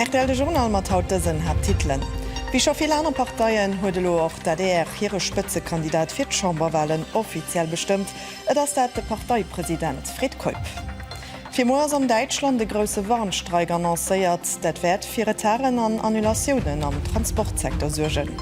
Rtl, de Journal mat haut dësen Haapttitelen, Wéi scho vill aner Parteien huet elo och d'ADR hire Spëtzekandidat fir d'Chamberwalen offiziell bestëmmt, et ass dat de Parteipresident Fred Keup. Fir muer ass an Däitschland e grousse Warnstreik annoncéiert. Dat wäert fir Retarden an Annulatiounen am Transportsecteur suergen.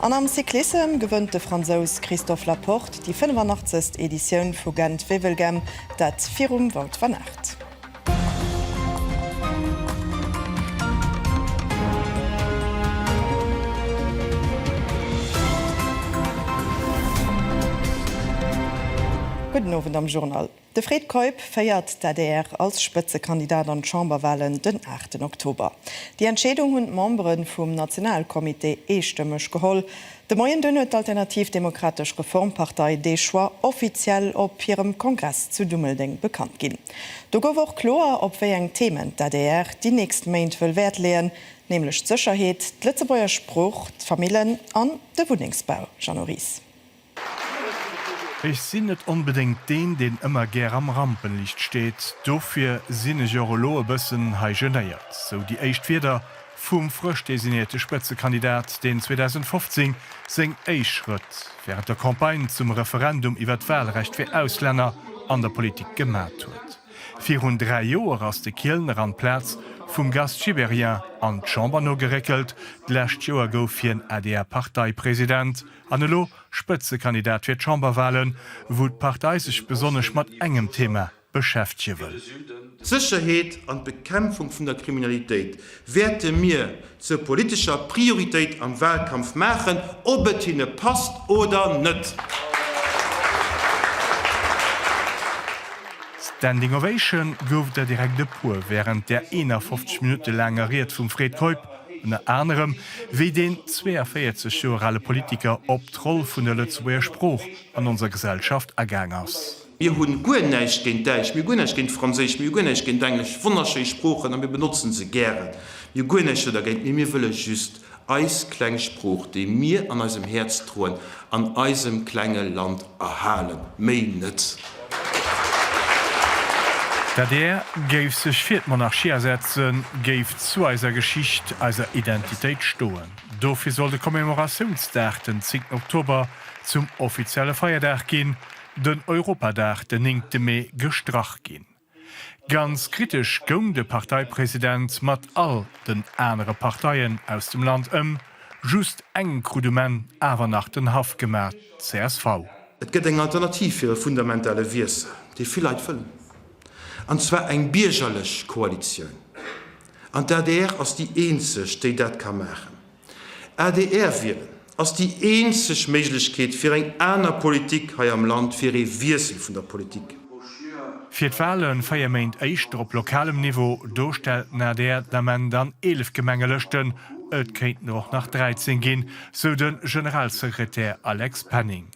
An am Cyclissem gewënnt de Fransous Christophe Laporte déi 85. Editioun vu Gent-Wevelgem, dat virum Wout van Aert. Gudden Owend am Journal. De Fred Keup féiert d'ADR als Spëtzekandidat an d'Chamberwalen den aachten Oktober. Déi Entscheedung hunn d'Membere vum Nationalcomité eestëmmeg geholl. De Moien dunn huet d'Alternativ Demokratesch Reformpartei dee Choix offiziell op hirem Kongress zu Dummeldeng bekannt ginn. Do gouf och kloer, op wéi eng Themen d'ADR déi nächst Méint wëll Wäert leeën, nämlech d'Sécherheet, d'Lëtzebuerger Sprooch, d'Famillen an de Wunnengsbau. Jeannot Ries. Ech sinn net onbedéngt deen, deen ëmmer gär am Rampenlicht steet. Dofir sinn ech och elo e bëssen hei genéiert. Sou déi éischt Wierder vum frësch designéierte Spëtzekandidat, deen 2015 seng éischt Schrëtt wärend der Campagne zum Referendum iwwert d'Walrecht fir Auslänner an der Politik gemat huet. Virun dräi Joer ass de Kielner an d'Plaz vum Gast Gibéryen an d'Chamber nogeréckelt. D'lescht Joer gouf hien ADR-Parteipresident. An elo Spëtzekandidat fir d'Chamberwahlen, wou d'Partei sech besonnesch mat engem Thema beschäftege wëll. D'Sécherheet an d'Bekämpfung vun der Kriminalitéit wäerte mir zur politescher Prioritéit am Wahlkampf maachen, ob et hinne passt oder net. Standing Ovation gouf der direkt e puer wärend der 51 Minutte laanger Ried vum Fred Keup. Ënner anerem, wéi deen 42 Joer ale Politiker op d'Roll vun der Lëtzebuerger Sprooch an onser Gesellschaft agaang ass. Mir hu guer näischt géint Däitsch, mir hu guer näischt géint Franséisch, mir hu guer näischt géint Englesch, wonnerschéi Sproochen, a mir benotze se gären, mir hu guer näischt dergéint, mee mir wëlle just eis kleng Sprooch, déi mir an eisem Häerz droen, an eisem klenge Land erhalen, méi net! D'adr géif sech fir d'Monarchie asetzen, géif zu eiser Geschicht, eiser Identitéit stoen. Dofir soll de Commemoratiounsdag, den zéngten Oktober, zum offizielle Feierdag ginn, den Europadag, den néngte Mee, gestrach ginn. Ganz kritesch goung de Parteipresident mat all den anere Parteien aus dem Land ëm. Just eng krut um Enn awer nach den Haff gemaach, csv. Et gëtt eng Alternativ fir e fundamentale Wiessel, dee vill Leit wëllen, an zwar eng biergerlech Koalitioun. An d'ADR ass déi eenzeg, déi dat ka maachen. Adr wielen ass déi eenzeg Méiglechkeet fir eng aner Politik hei am Land, fir ee Wiessel vun der Politik. Fir d'Wale véier Méint éischter op lokalem Niveau, do stellt den adr den Ament an 11 Gemengelëschten, et kéinten der och nach 13 ginn, sou de Generalsekretär Alex Penning.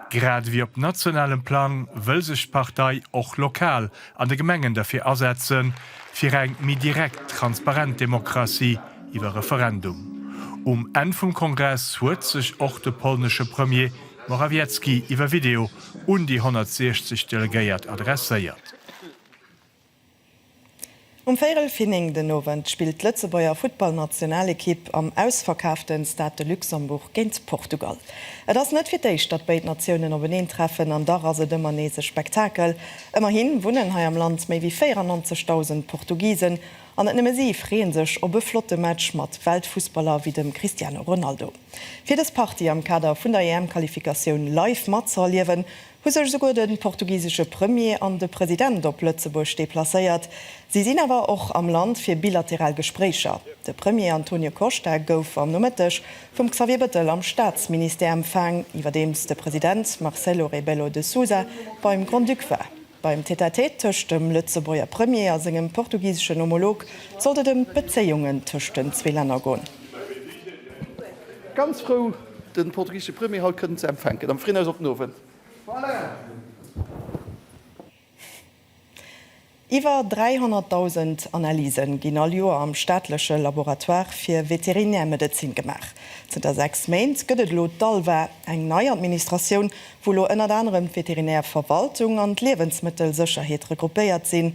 Grad ewéi op nationalem Plang wëll sech d'Partei och lokal an de Gemengen derfir asetzen, fir eng méi direkt, transparent Demokratie iwwer Referendum. Um Enn vum Kongress huet sech och de polnesche Premier Morawiecki iwwer Video un déi 160 Delegéiert adresséiert. Um Véierel vir 9 den Owend spillt d'Lëtzebuerger Futtballnationalekipp am ausverkaafte Stade de Luxembourg géint Portugal. Et ass net fir d'éischt, datt béid Natiounen openeen treffen an dach ass et ëmmer nees e Spektakel. Ëmmerhi wunnen hei am Land méi wéi 94.000 Portugisen an net nëmme si freeën sech op e flotte Match mat Weltfussballer wéi dem Cristiano Ronaldo. Fir dës Partie am Kader vun der EM-Qualifikatioun live matzëerliewen, hu sech esouguer de portugisesche Premier an de President op Lëtzebuerg deplacéiert. Si sinn awer och am Land fir bilateral Gespréicher. De Premier Antonio Costa gouf am Nomëtteg vum Xavier Bëttel am Staatsministère empfaang, iwwerdeems de President Marcelo Rebelo de Sousa beim Grand-Duc war. Beim Tête-à-Tête tëscht dem Lëtzebuerger Premier a sengem portugiseschen Homolog sollt et ëm d'Bezéiungen tëscht den zwee Länner goen. Den portugisesche Premier haut kënnen ze empfänken. Am frien Aus op den Owend. Iwwer 300.000 Analysen ginn all Joer am staatleche Laboratoire fir Veterinärmedezin gemaach. Zënter 6 Méint gëtt et elo d'ALVA, eng nei Administratioun, wou elo ënnert anerem d'Veterinärverwaltung an d'Liewensmëttelsécherheet regroupéiert sinn.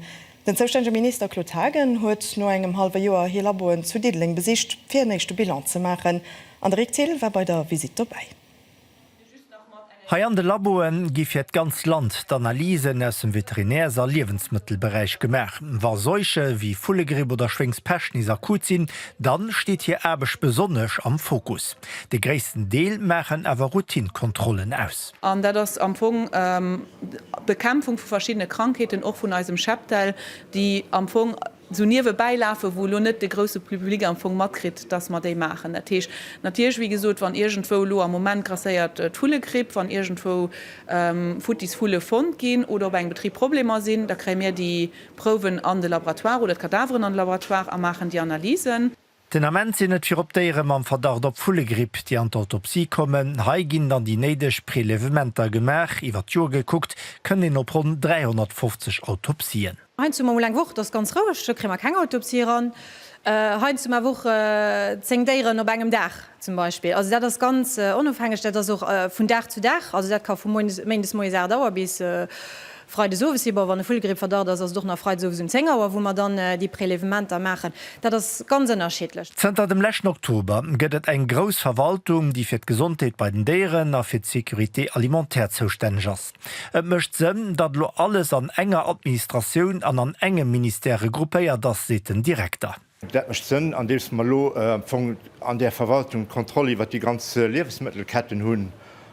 Den zoustännege Minister Claude Haagen huet no engem hallwe Joer hir Laboen zu Diddeleng besicht, fir en éischte Bilan ze maachen. An de Rik Thill war bei der Visitt dobäi. Hei an de Laboe gi fir d'ganz Land d'Analysen aus dem Veterinärs a Liewensmëttelberäich gemaach. Wa Seuche wéi Vullegripp oder Schwéngspescht nees akut sinn, da steet hir Aarbecht besonnesch am Fokus. De gréissten Deel maachen awer Routinekontrollen aus. An dat ass am Fong Bekämpfung vu verschiddene Krankheeten, och vun eisem Cheptel, déi am Fong esou niewebäi lafen, wou elo net de grousse Public am Fong matkritt, dass mer déi maachen. Dat heescht natierlech, wéi gesot, wann iergendwou elo am Moment grasséiert d'Vullegripp, wann iergendwou futtis Vulle fonnt ginn oder op engem Betrib Problemer sinn, da kréie mir déi Prouwen an de Laboratoire oder d'Kadaveren an de Laboratoire a maachen déi Analysen. Den Ament sinn et virop Déiere mam Verdacht op Vullegripp, déi an d'Autopsie kommen. Hei ginn dann déi néideg Prelevementer gemaach. Iwwer d'Joer gekuckt kënnt een op ronn 350 Autopsien. Heiansdo hu mer mol eng Woch, et ass ganz roueg, do kréie mer keng Autopsie eran. Heiansdo hu mer Wochen, zéng Déieren op engem Dag zum Beispill. Also dat ass ganz onofhängeg, dat ass och vun Dag zu Dag, also dat ka vu Méindes moies 8 Auer bis Freides owes si, bon, wann e Vullgrippverdacht ass, ass et och nach freides owes um 10 Auer, wou mer dann déi Prelevementer maachen. Dat ass ganz ënnerschiddlech. Zënter dem leschten Oktober gëtt et eng grouss Verwaltung, déi fir d'Gesondheet bei den Déieren a fir d'Sécurité alimentaire zoustänneg ass. Et mécht Sënn, datt elo alles an enger Administratioun an an engem Ministère regroupéiert ass, seet den Direkter. Dat mécht Sënn, andeems mer elo am Fong an där Verwaltung d'Kontroll iwwert déi ganz Liewensmëttelketten hunn,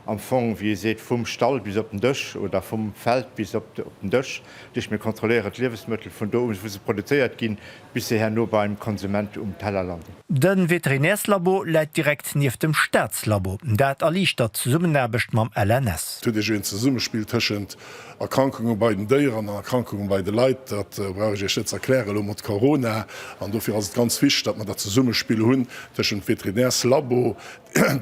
am Fong, wéi ee seet, vum Stall bis op den Dësch oder vum Feld bis op den Dësch. Dat heescht, mir kontrolléieren d'Liewensmëttel vun do un, wou se produzéiert ginn, bis se herno beim Konsument um Teller landen. De Veterinärslabo läit direkt nieft dem Staatslabo. Dat erliichtert d'Zesummenaarbecht mam LNS. Et huet ee een Zesummespill tëschent Erkrankunge bei den Déieren an Erkrankunge bei de Leit, dat brauch ech Iech net ze erklären, elo mat Corona. An dofir ass et ganz wichteg, datt mer dat Zesummespill hunn tëschent Veterinärslabo,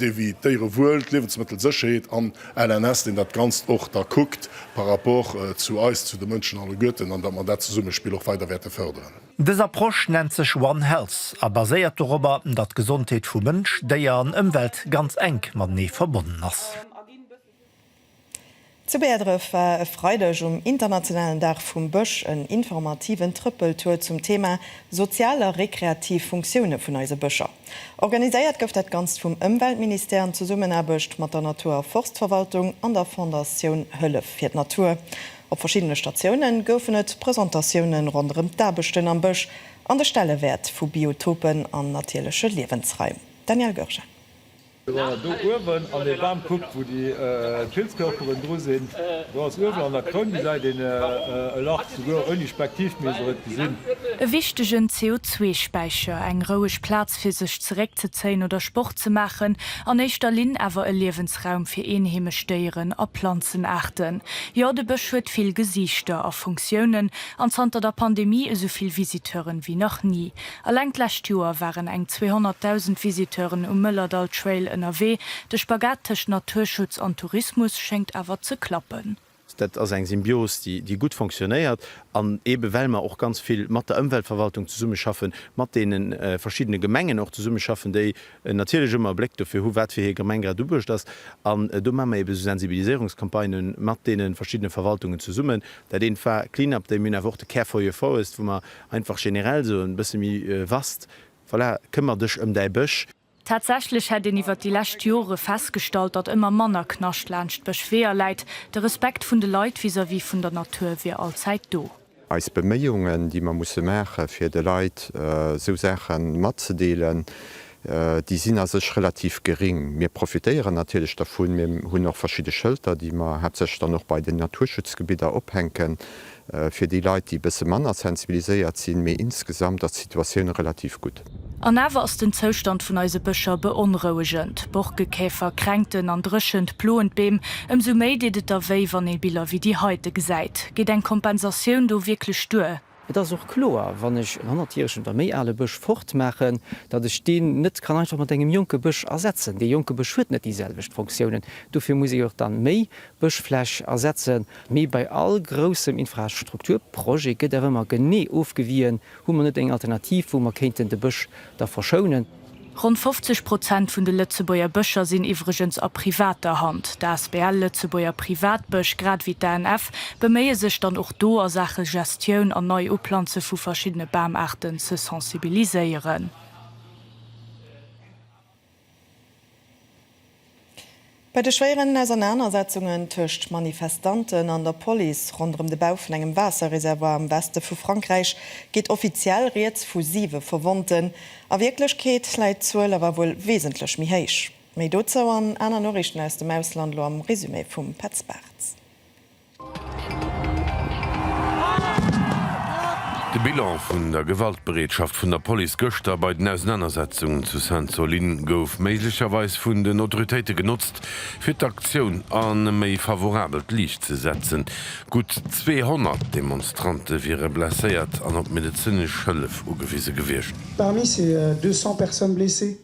dee wéi d'Déierewuel, d'Liewensmëttelsécherheet, an LNS, deen dat Ganzt och da kuckt par rapport zu eis, zu de Mënschen alleguerten, an datt mer dat Zesummespill och weider wäerte fërderen. Dës Approche nennt sech One Health a baséiert dorobber, datt d'Gesondheet vu Mënsch, Déier an Ëmwelt ganz enk matenee verbonnen ass. Zu Bäerdref war e Freideg um internationalen Dag vum Bësch en informativen Trëppeltour zum Thema sozial a rekreativ Funktioune vun eise Bëscher. Organiséiert gouf dat Ganzt vum Ëmweltministère an Zesummenaarbecht mat der Natur a Forstverwaltung an der Fondatioun Hëllef fir d'Natur. Op verschiddene Statioune goufen et Presentatioune ronderëm d'Aarbechten am Bësch an de Stellewäert vu Biotopen an natierleche Liewensraim. Danièle Goergen. Do uewen an dee Bam kuckt, wou déi Pilzkörperen dru sinn, do ass uewen an der Kroun gesäit een e Lach, souguer ouni Spektiv misst een et gesinn. E wichtegen CO2-Späicher, eng roueg Plaz fir sech zeréckzezéien oder Sport ze maachen, an éischter Linn awer e Liewensraum fir eenheemesch Déieren a Planzenaarten. Jo, de Bësch huet vill Gesiichter a Funktiounen an zanter der Pandemie esou vill Visiteuren wéi nach ni. Alleng d'lescht Joer waren eng 200.000 Visiteuren um Mëllerdall Trail ënnerwee. De Spagat tëscht Naturschutz an Tourismus schéngt awer ze klappen. Dat ass eng Symbios, déi gutt fonctionnéiert. An eebe well mer och ganz vill mat der Ëmweltverwaltung zesummeschaffen, mat deene verschiddene Gemengen och zesummeschaffen, déi natierlech ëmmer e Bléck dofir hu wat fir hir Gemeng grad uebuecht ass. An do maache mer eebe esou Sensibiliséierungscampagnë mat deene verschiddene Verwaltungen zesummen. Dat eent war Clean-Up Day. Mir hunn awer och de Care for your Forest, wou mer Einfach generell sou en bësse méi vast, voilà, këmmer dech ëm däi Bësch. Tatsächlech hätt een iwwert déi lescht Jore festgestallt, datt ëmmer manner Knascht laanscht Bëschweeër läit. De Respekt vun de Leit vis-à-vis vun der Natur wier allzäit do. Eis Beméiungen, déi mer musse maachen, fir de Leit sou Saache matzedeelen, déi sinn a sech relativ geréng. Mir profitéieren natierlech dervun, mir hunn och verschidde Schëlter, déi mer haaptsächlech dann och bei den Naturschutzgebidder ophänken, Fir déi Leit, déi e bësse manner sensibiliséiert sinn, mee insgesamt ass d'Situatioun relativ gutt. An awer ass den Zoustand vun eise Bëscher beonrouegend. Borkekäfer, Kränkten an Dréchent ploen d'Beem. Ëmsou méi deet et da wéi, wann ee Biller wéi déi heite gesäit. Geet eng Kompensatioun do wierklech duer? Et ass och kloer, wann ech en hannertjäregen oder méi ale Bësch fortmaachen, datt ech deen net kann einfach mat engem jonke Bësch ersetzen. Dee jonke Bësch huet net déi selwecht Fonctiounen. Dofir muss ee jo och da méi Bëschfläch ersetzen. Mee bei all groussem Infrastrukturprojet gëtt awer ëmmer genee ofgewien, Hu mer net eng Alternativ, wou mer kéinten de Bësch da verschounen? Ronn 50 Prozent vun de Lëtzebuerger Bëscher sinn iwwregens a privater Hand. D'asbl Lëtzebuerger Privatbësch, grad ewéi d'ANF, beméie sech dann och do a Saache Gestioun an Neiuplanze vu verschiddene Bamaarten ze sensibiliséieren. Bei de schwéieren Ausernanersetzungen tëscht Manifestanten an der Police ronderëm de Bau vun engem Waasserreservoir am Weste vu Frankräich geet offiziell rieds vu siwe Verwonnten. A Wierklechkeet läit d'Zuel awer wuel wesentlech méi héich. Méi dozou an aner Noriichten aus dem Ausland elo am Resumé vum Petz Bartz. De Bilan vun der Gewaltbereetschaft vun der Police gëschter bei den Ausenanersetzungen zu Sainte-Soline gouf méiglecherweis vun den Autoritéite genotzt, fir d'Aktioun an e méi favorabelt Liicht ze setzen. Gutt 200 Demonstrante wiere blesséiert an op medezinesch Hëllef ugewise gewiescht. Parmi ces 200 personnes blessées,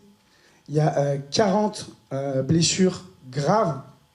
il y a 40 blessures graves.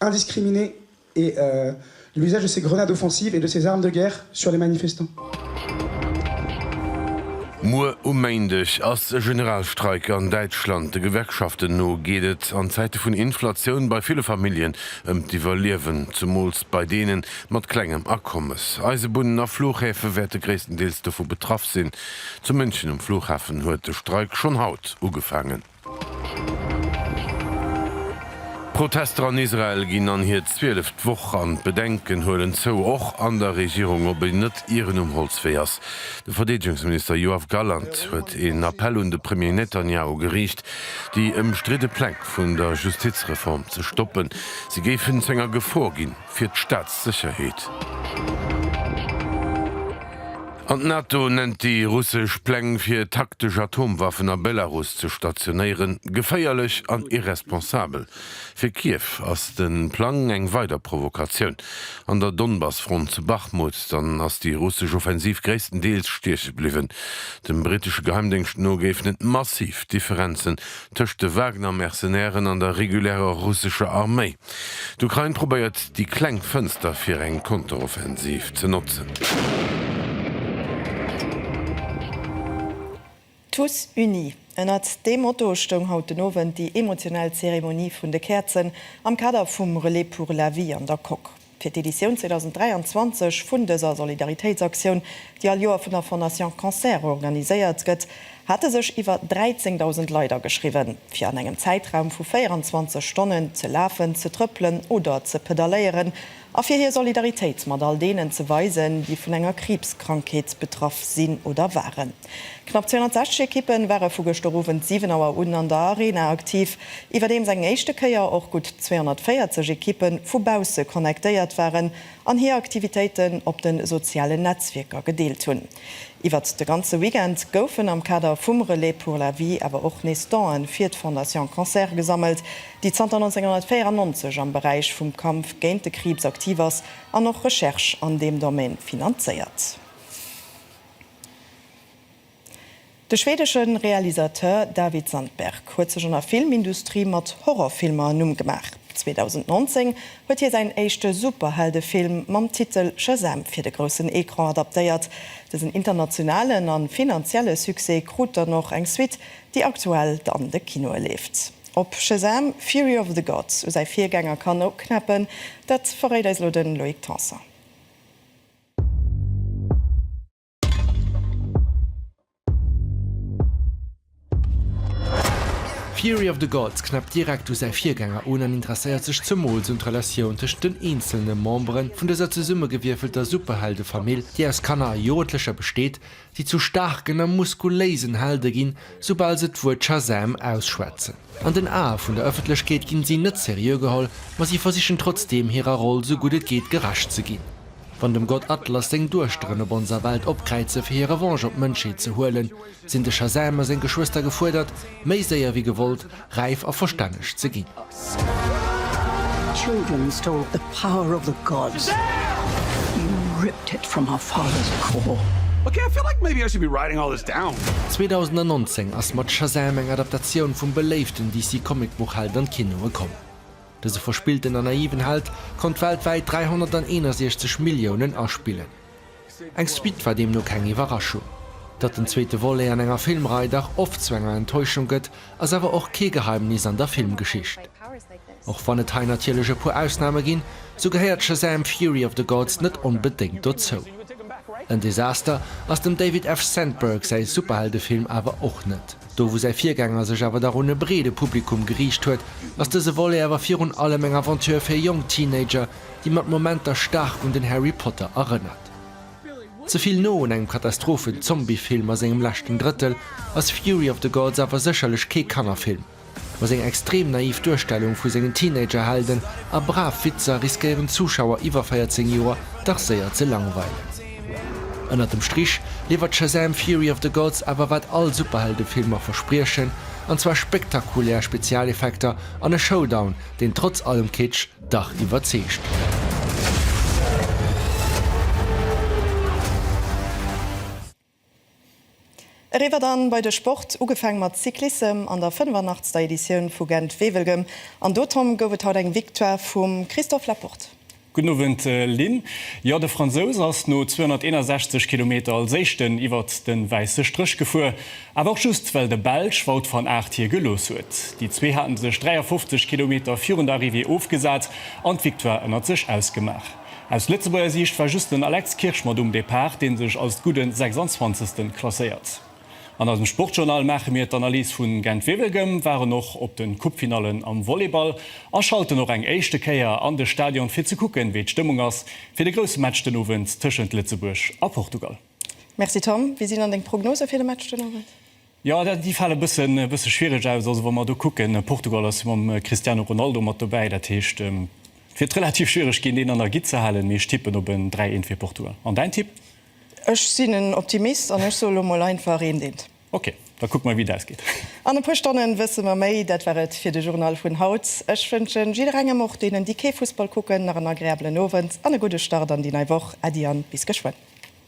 indiscriminée et l'usage de ces grenades offensives et de ces armes de guerre sur les manifestants. Muer um Méindeg ass e Generalstreik an Däitschland. De Gewerkschaften no geet et an Zäite vun Inflatioun bei ville Familljen ëm d'Iwwerliewen, zemools bei deene mat klengem Akommes. Eisebunnen a Fluchhäfe wäerte gréisstendeels dovu betraff sinn. Zu München um Flughafen huet de Streik schonn haut ugefaangen. D'Protester an Israel ginn an hir zwieleft Woch an d'Bedenken huelen zou, och an der Regierung, ob een net ieren um Holzwee ass. De Verdeedegungsminister Yoav Gallant huet een Appell un de Premier Netanjahu geriicht, déi ëmstridde Pläng vun der Justizreform ze stoppen, si géifen zu enger Gefor ginn. fir d'Staatssécherheet. An d'NATO nennt déi russesch Pläng fir taktesch Atomwaffen a Belarus ze stationéieren, geféierlech an irresponsabel. Fir Kiew ass de Plang eng weider Provokatioun. An der Donbass-Front zu Bachmut dann ass déi russesch Offensiv gréisstendeels stieche bliwwen. Dem brittesche Geheimdéngscht no géifen et massiv Differenzen tëscht de Wagner-Mercenairen an der regulärer russescher Arméi. D'Ukrain probéiert déi kleng Fënster fir eng Konteroffensiv ze notzen. Tous unis, ënnert deem Motto stoung haut den Owend déi emotionell Zeremonie vun de Käerzen am Kader vum Relais pour la vie an der Coque fir d'Editioun 2023 vun dëser Solidaritéitsaktioun, déi all Joer vun der Fondation Cancer organiséiert gëtt. hate sech iwwer 13.000 Leit ageschriwwen, fir an engem Zäitraum vu 24 Stonnen ze lafen, ze trëppelen oder ze pedalléieren a fir hir Solidaritéit mat all deenen ze weisen, déi vun enger Kriibskrankheet betraff sinn oder waren. Knapp 260 Ekippe ware vu gëschter Owend 7 Auer un an der Arena aktiv, iwwerdeems eng éischte Kéier och gutt 240 Ekippe vu bausse connectéiert waren, an hir Aktivitéiten op de sozialen Netzwierker gedeelt hunn. Iwwert de ganze Weekend goufen am Kader vum Relais pour la vie awer och nees Donen fir d'Fondation Cancer gesammelt, déi zanter 1994 am Beräich vum Kampf géint de Kriibs aktiv ass an och Recherche an deem Domaine finanzéiert. De schwedesche Realisateur David Sandberg huet sech an der Filmindustrie mat Horrorfilmer e Numm gemaach. 2019 huet hie säin éischte Superheldefilm mam Titel Shazam fir de groussen Ecran adaptéiert. Dësen internationalen a finanzielle Succès krut dann och eng Suite, déi aktuell an de Kinoe leeft. Ob Shazam! Fury of the Gods u säi Virgänger kann uknäppen, dat verréit eis elo de Loïc Tanson. Fury of the Gods knäppt direkt u säi Virgänger un an interesséiert sech zemools un d'Relatioun tëschent den eenzele Membere vun dëser zesummegewierfelter Superheldefamill, déi aus Kanner a Jugendlecher besteet, déi zu staarken a muskuléisen Helde ginn, soubal se d'Wuert Shazam! ausschwätzen. An den Ae vun der Ëffentlechkeet ginn si net seriö geholl, ma si versichen trotzdeem hirer Roll sou gutt et geet gerecht ze ginn. Wann dem Gott Atlas seng Duechteren op onser Welt opkräize fir hir Revanche op d'Mënschheet ze huelen, sinn de Shazam a seng Geschwëster gefuerdert, méi séier wéi gewollt, räif a verstänneg ze ginn. 2019 ass mat Shazam eng Adaptatioun vum beléiften DC-Comic-Buchheld an d'Kinoe komm. Dëse verspillten a naiven Held konnt weltwäit 361 Milliounen aspillen. Eng Suite war deemno keng Iwwerraschung. Datt den zweete Volet an enger Filmrei dach oft zu enger Enttäuschung gëtt, ass awer och kee Geheimnis an der Filmgeschicht. Och wann et hei natierlech e puer Ausname ginn, sou gehéiert Shazam! Fury of the Gods net onbedéngt dozou. En Desaster ass dem David F. Sandberg säi Superheldefilm awer och net. Do wou säi Virgänger sech awer dach un e breede Publikum geriicht huet, ass dëse Volet awer virun allem eng Aventure fir jonk Teenager, déi mat Momenter staark un den Harry Potter erënnert. Ze vill no un engem Katastrophen-Zombie-Film a sengem leschten Drëttel ass Fury of the Gods awer sécherlech kee Kannerfilm, ma seng extrem naiv Duerstellung vu sengen Teenager-Helden a brav Witzer riskéieren d'Zuschauer iwwer 14 Joer dach séier ze langweilen. Ënnert dem Strich liwwert Shazam! Fury of the Gods awer wat all Superheldefilmer verspriechen, an zwar spektakulär Spezialeffekter an e Showdown, deen trotz allem Kitsch dach iwwerzeegt. Eriwwer dann bei de Sport, ugefang mat Cyclissem an der 85. Editioun vu Gent-Wevelgem an dotom gouf et haut eng Victoire vum Christophe Laporte. Gudden Owend Lynn. Jo, de Fransous ass no 261 Kilometer als éischten iwwert den wäisse Stréch gefuer, awer och just well de Belsch Wout van Aert hie gelooss huet. Déi zwee haten sech 53 Kilometer virun der Arrivée ofgesat an d'Victoire ënnert sech ausgemaach. Aus Lëtzebuerger Siicht war just den Alex Kirsch mat um Depart, dee sech als gudden 26. klasséiert. An eisem Sportjournal maache mir d'Analys vun Gent-Wevelgem, waren och op den Coupefinallen am Volleyball a schalten och eng éischte Kéier an de Stadion fir ze kucken, wéi d'Stëmmung ass fir de grousse Match den Owend tëschent Lëtzebuerg a Portugal. Merci Tom, wéi sinn dann deng Prognosë fir de Match den Owend? Jo, déi fale bësse schwiereg aus. Also wa mer do kucken, Portugal ass jo mam Cristiano Ronaldo mat dobäi. Dat heescht, et wird relativ schwiereg ginn, deen an der Gitt ze halen. Mee ech tippen op en 3, 1 fir Portugal. An däin Tipp? Ech sinn en Optimist an ech soe lo mol einfach 1, 1. Ok, da kucke mer, wéi et ausgeet. An e puer Stonnen wësse mer méi. Dat war et fir de Journal vun haut. Ech wënschen jidderengem, och deenen, déi kee Fussball kucken, nach en agreabelen Owend an e gudde Start an déi nei Woch. Äddi an bis geschwënn.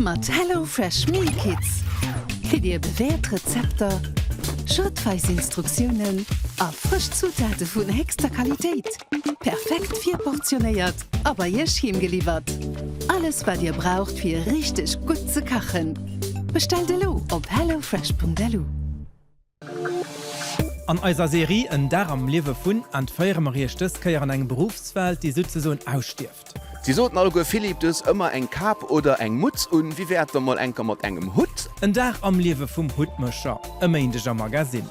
Mat Hello Fresh Meal Kits kritt Dir bewäert Rezepter, schrittweis Instruktiounen a frësch Zutate vun héchster Qualitéit, perfekt virportionéiert a bei Iech heem geliwwert. Alles wat Dir braucht fir richteg gutt ze kachen, bestellt elo op hellofresh.lu. An eiser Serie En Dag am Liewe vun entféiere mer Iech dës Kéier an eng Beruffswelt, déi souzesoen ausstierft. Si soten alleguer Philippe, du hues ëmmer eng Kap oder eng Mutz un, wéi wär et da mol enker mat engem Hutt? En Dag am Liewe vum Huttmécher, e Méindeg am Magasinn.